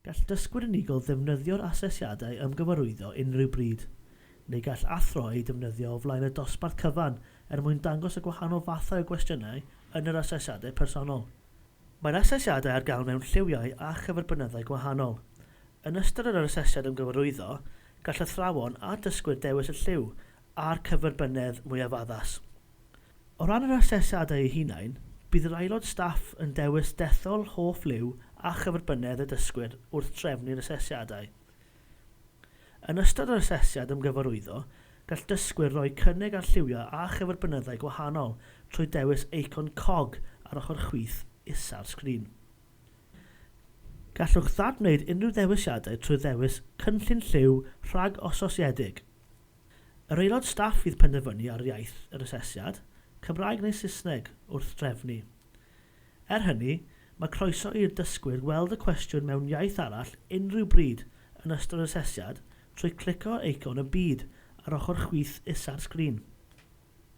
Gall dysgwyr unigol ddefnyddio'r asesiadau ymgyfarwyddo unrhyw bryd, neu gall athro eu defnyddio o flaen y dosbarth cyfan er mwyn dangos y gwahanol fathau o gwestiynau yn yr asesiadau personol. Mae'r asesiadau ar gael mewn lliwiau a chyferbynyddau gwahanol. Yn ystod yr asesiad ymgyfarwyddo, gall athrawon a dysgwyr dewis y lliw a'r cyferbynnedd mwyaf addas. O ran yr asesiadau eu hunain, bydd yr aelod staff yn dewis dethol hoff liw a chyferbynnedd y dysgwyr wrth drefnu'r asesiadau. Yn ystod yr asesiad ymgyfarwyddo, gall dysgwyr roi cynnig ar lliwiau a chyferbynnyddau gwahanol trwy dewis eicon cog ar ochr chwith isa'r sgrin. Gallwch ddadwneud unrhyw ddewisiadau trwy ddewis Cynllun Lliw rhag-ososiedig. Yr aelod staff fydd penderfynu ar iaith yr asesiad, Cymraeg neu Saesneg, wrth drefnu. Er hynny, mae croeso i'r dysgwyr weld y cwestiwn mewn iaith arall unrhyw bryd yn ystod yr asesiad trwy clicio ar eicon y byd ar ochr chwith isa'r sgrin.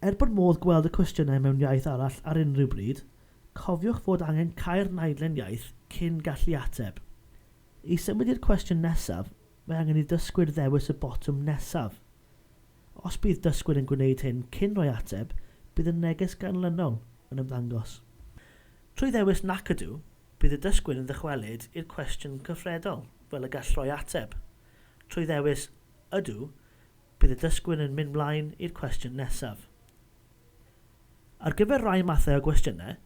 Er bod modd gweld y cwestiynau mewn iaith arall ar unrhyw bryd, cofiwch fod angen cau'r naidlen iaith cyn gallu ateb. I symud i'r cwestiwn nesaf, Mae angen i dysgwyr ddewis y botwm nesaf. Os bydd dysgwyr yn gwneud hyn cyn rhoi ateb, bydd y neges ganlynol yn ymddangos. Trwy ddewis 'Nac Ydw', bydd y dysgwyr yn ddychwelyd i'r cwestiwn cyfredol fel y gall rhoi ateb. Trwy ddewis 'Ydw', bydd y dysgwyr yn mynd mlaen i'r cwestiwn nesaf. Ar gyfer rhai mathau o gwestiynau,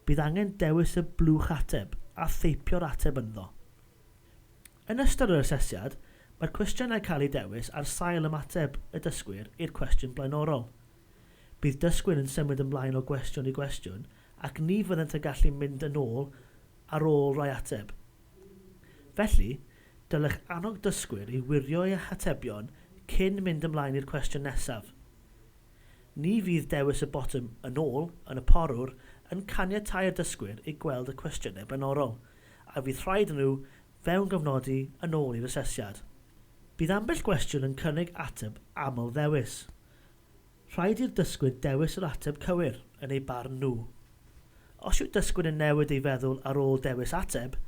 bydd angen dewis y blwch ateb a theipio'r ateb ynddo. Yn ystod yr asesiad, mae'r cwestiynau cael eu dewis ar sail ymateb y dysgwyr i'r cwestiwn blaenorol. Bydd dysgwyr yn symud ymlaen o gwestiwn i gwestiwn ac ni fyddent yn gallu mynd yn ôl ar ôl rhoi ateb. Felly, dylech annog dysgwyr i wirio eu hatebion cyn mynd ymlaen i'r cwestiwn nesaf. Ni fydd dewis y botwm 'Yn ôl' yn y porwr yn caniatáu'r dysgwyr i gweld y cwestiynau blaenorol. a fydd rhaid nhw fewngofnodi yn ôl i'r asesiad. Bydd ambell gwestiwn yn cynnig ateb aml-ddewis. Rhaid i'r dysgwyr dewis yr ateb cywir, yn eu barn nhw. Os yw dysgwyr yn newid ei feddwl ar ôl dewis ateb,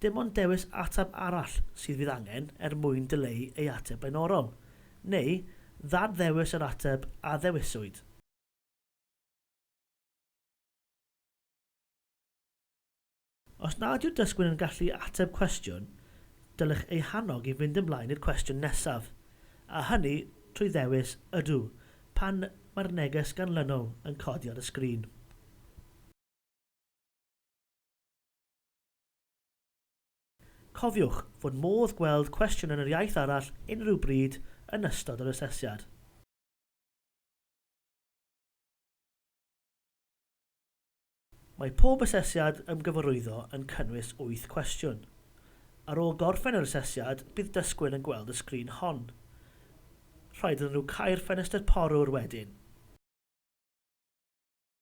dim ond dewis ateb arall sydd fydd angen er mwyn dileu ei ateb blaenorol, neu ddad-ddewis yr ateb a ddewiswyd. Os nad yw'r dysgwr yn gallu ateb cwestiwn, dylech eu hannog i fynd ymlaen i'r cwestiwn nesaf, a hynny trwy ddewis Ydw pan mae'r neges ganlynol yn codi ar y sgrin. Cofiwch fod modd gweld cwestiwn yn yr iaith arall unrhyw bryd yn ystod yr asesiad. Mae pob asesiad ymgyfarwyddo yn cynnwys wyth cwestiwn. Ar ôl gorffen yr asesiad, bydd dysgwyr yn gweld y sgrin hon. Rhaid iddyn nhw cau'r ffenestr porwr wedyn.